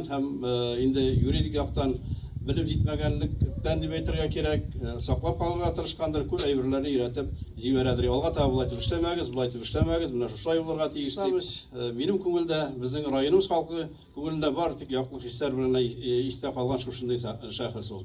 Һәм инде юридик яктан белем җитмәгәнлектән дип әйтергә кирәк, саклап калырга тырышкандыр, күп әйберләрне өйрәтеп җибәрәдер. Алга таба болай дип эшләмәгез, болай дип эшләмәгез, менә шушылай булырга тиеш дип. Минем күңелдә, безнең районыбыз халкы күңелендә бар тик яклы хисләр белән истә калган шушындый шәхес ул.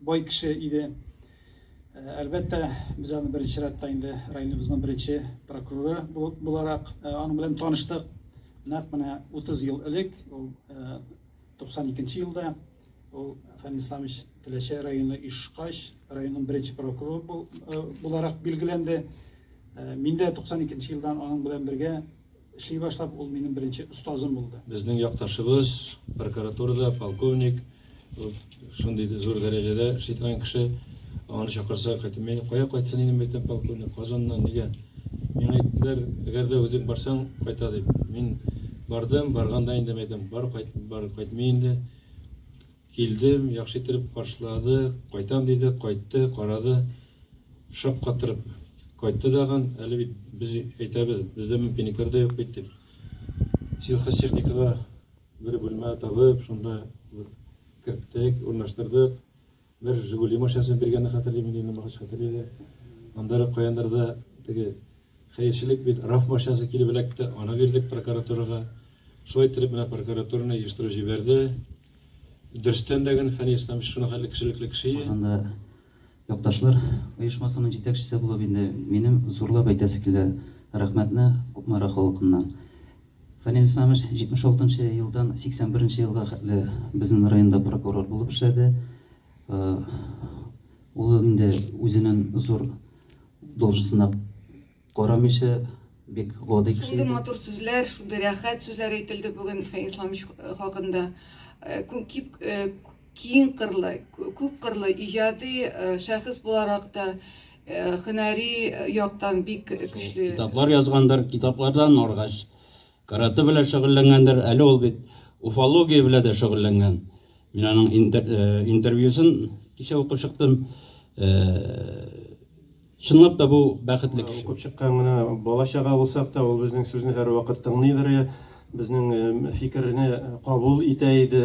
Бай кеше иде. Әлбәттә, без аны беренче рәттә инде районыбызның беренче прокуроры буларак аның белән таныштык. Нәкъ менә 30 ел элек, ул 92 елда ул Фәнил Исламович Теләче районы Ишкач районының беренче прокуроры буларак билгеләнде. Мин дә 92 елдан аның белән бергә Эшли башлап, ул минем беренче остазым булды. Безнең якташыбыз, прокуратурада полковник, шундый зур дәрәҗәдә эшли торган кеше, аны чакырса, кайтып, мин кая кайтсын инде, мәйтәм, полковник, Казаннан, нигә? Миңа әйттеләр, әгәр дә үзең барсаң, кайта дип. Мин бардым, барганда инде мәйтәм, бар, кайт, бар, кайтмый инде. Килдем, яхшы иттереп каршылады, кайтам диде, кайтты, карады, шаккатырып кайтты дагын, әле бит без әйтәбез, бездә мөмкинлекләр дә юк бит дип. Сельхозтехникага бер бүлмә табып, шунда керттек, урнаштырдык. Бер Жигули машинасын биргәнне хәтерлим, инде инде багач хәтерләде. Андары каяндарда теге хәерчелек бит раф машинасы килеп эләкте, аны бирдек прокуратурага. Шулай иттереп менә прокуратураны оештырып җибәрде. Дөрестән дә гел Фәнис Исламович шуның хәтле кешелекле кеше. Казанда якташлар оешмасының җитәкчесе булып инде минем зурлап әйтәсе килә рәхмәтне Кукмара халкыннан. Фәнил Исламович 76 нчы елдан 81 нче елга хәтле безнең районда прокурор булып эшләде. Ул инде үзенең зур должностена Карамыйча бик гади кеше. Шундый матур сүзләр, шундый рәхәт сүзләр әйтелде бүген Фәнис Исламович хакында. Э, э, киң кырлы, күп кырлы иҗади э, шәхес буларак та һөнәри яктан бик көчле. Китаплар язгандыр, китаплардан аргач Каратэ белән шөгыльләнгәндер, әле ул бит уфология белән дә шөгыльләнгән. Мин аның интервьюсын кичә укып чыктым. Чынлап та бу бәхетле кеше. Укып чыккан гына бала-чага булсак та, ул безнең сүзне һәрвакыт тыңлыйдыр, безнең фикерне кабул итә иде.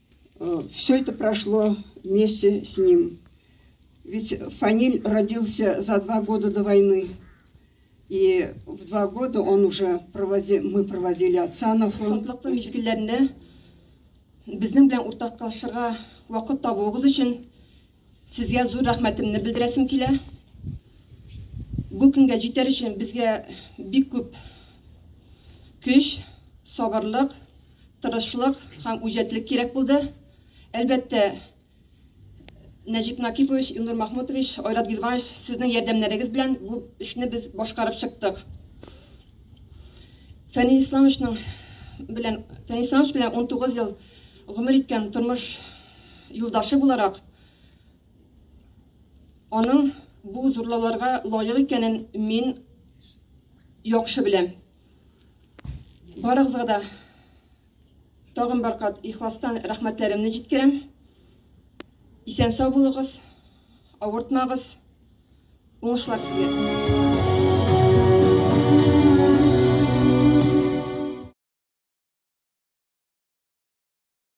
Э, все это прошло вместе с ним. Ведь Фаниль родился за два года до войны. И в два года он уже проводи, мы проводили отца на фронт. Шатлыклы мизгелләрне безнең белән уртаклашырга вакыт табуыгыз өчен Сезгә зур рәхмәтемне белдерәсем килә. Бу көнгә җитәр өчен безгә бик күп көч, сабырлык, тырышлык һәм үҗәтлек кирәк булды. Әлбәттә, Нәҗип Накипович, Илнур Махмутович, Айрат Гилванович, сезнең ярдәмнәрегез белән бу эшне без башкарып чыктык. Фәнил Исламовичның белән Фәнил Исламович белән 19 ел гомер иткән тормыш юлдашы буларак, аның бу зурлауларга лаек икәнен мин яхшы беләм. Барыгызга да тагын бер кат ихластан рәхмәтләремне җиткерәм. Исән сау булыгыз, авыртмагыз, уңышлар сезгә.